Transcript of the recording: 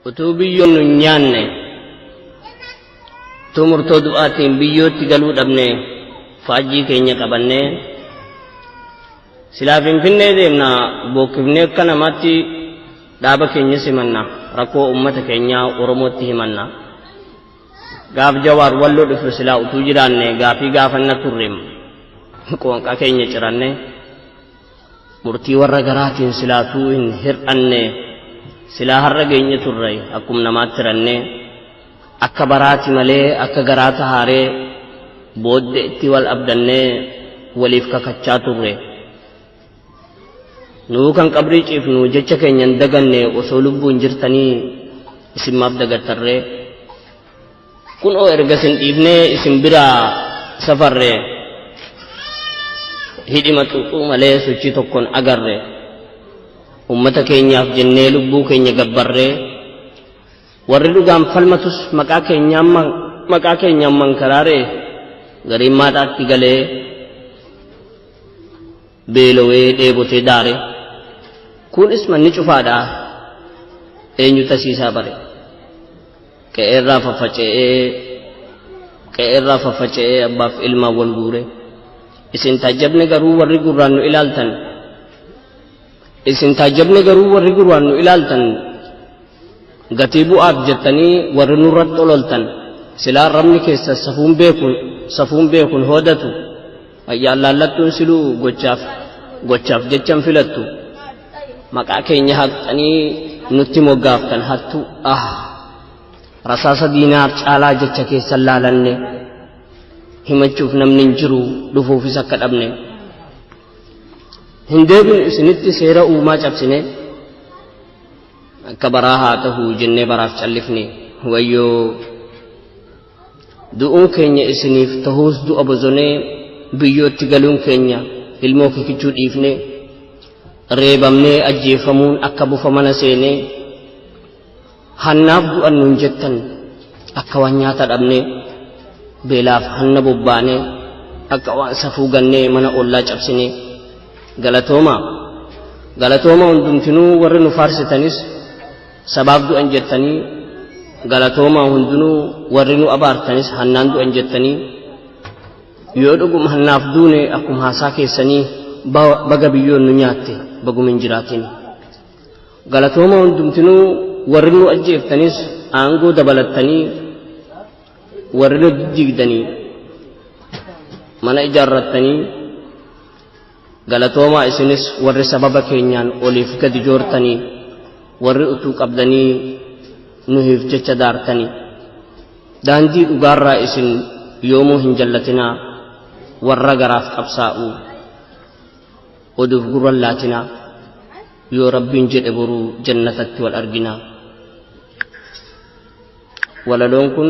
utuu biyyoon nu hin nyaanne utuu murtoo du'aatiin biyyootti galuu dhabne faajjii keenya qabannee silaa finfinnee deemna bookkifnee akka namaatti dhaaba keenya simanna rakkoo uummata keenyaa oromootti himanna gaaf jawaar walloo dhufu silaa utuu jiraanne gaafii gaafanna turreem qoonqaa keenya ciranne Murtii warra garaatiin silaatuu hin hir'anne silaa har'a geenye turre akkuma namaatti ranne akka baraati malee akka garaa tahaaree boodde itti wal abdannee waliif kakachaa turre. Nuu kan qabrii ciifnu jecha keenyan daganne osoo lubbuun jirtanii isin maaf dagattarree. Kunoo erga isin dhiifnee isin biraa safarre hidhima xuuxuu malee sochii tokkoon agarre ummata keenyaaf jennee lubbuu keenya gabbarree warri dhugaan falmatus maqaa keenyaan man- maqaa keenyaan mankaraaree gariin maadhaatti galee beelowee dheebotee daare kunis manni cufaadha eenyu tasiisaa bare qe'eerraa faffaca'ee qe'eerraa faffaca'ee abbaaf ilmaan wal guure isin taajjabne garuu warri gurraan nu ilaaltan isin taajjabne garuu warri gurraan nu ilaaltan gatii bu'aaf jettanii warri nurratti ololtan silaa rabni keessa safuun beekun safuun beekun hoodatu Mayyaallallattuun siluu gochaaf gochaaf jechan filattu maqaa keenya haqxanii nutti moggaaftan hattuu ah rasaasa diinaaf caalaa jecha keessan laalanne himachuuf namni hin jiru dhufuufis akka dhabne hin deebinu isinitti seera uumaa cabsine akka baraa haa tahu jennee baraaf callifne wayyoo Du'uun keenya isiniif tahuus du'a bozonee biyyootti galuun keenya ilmoo kikichuu dhiifnee reebamnee ajjeefamuun akka bufa mana seenee hannaaf du'an nuun jettan akka waan nyaata dhabnee beelaaf hanna bobbaanee akka waan safuu gannee mana ollaa cabsinee galatooma galatooma hundumtinuu warri nu faarsitanis Sabaaf du'an jettanii galatoomaa hundinuu warri nu abaartanis hannaan du'an jettanii yoo dhuguma hannaaf duune akkuma haasaa keessanii baga biyyoon nu nyaatte baguma hin jiraatin. Galatoomaa hundumtinuu warri nu ajjeeftanis aangoo dabalattanii warri nu diddiigdanii mana ijaarrattanii Galatoomaa isinis warri sababa keenyaan oliif gadi joortanii warri utuu qabdanii nuhiif jecha daartanii daandii dhugaarraa isin yoomuu hin jallatinaa warra garaaf qabsaa'u oduuf gurran laatinaa yoo rabbiin jedhe boruu jannatatti wal arginaa walaloon kun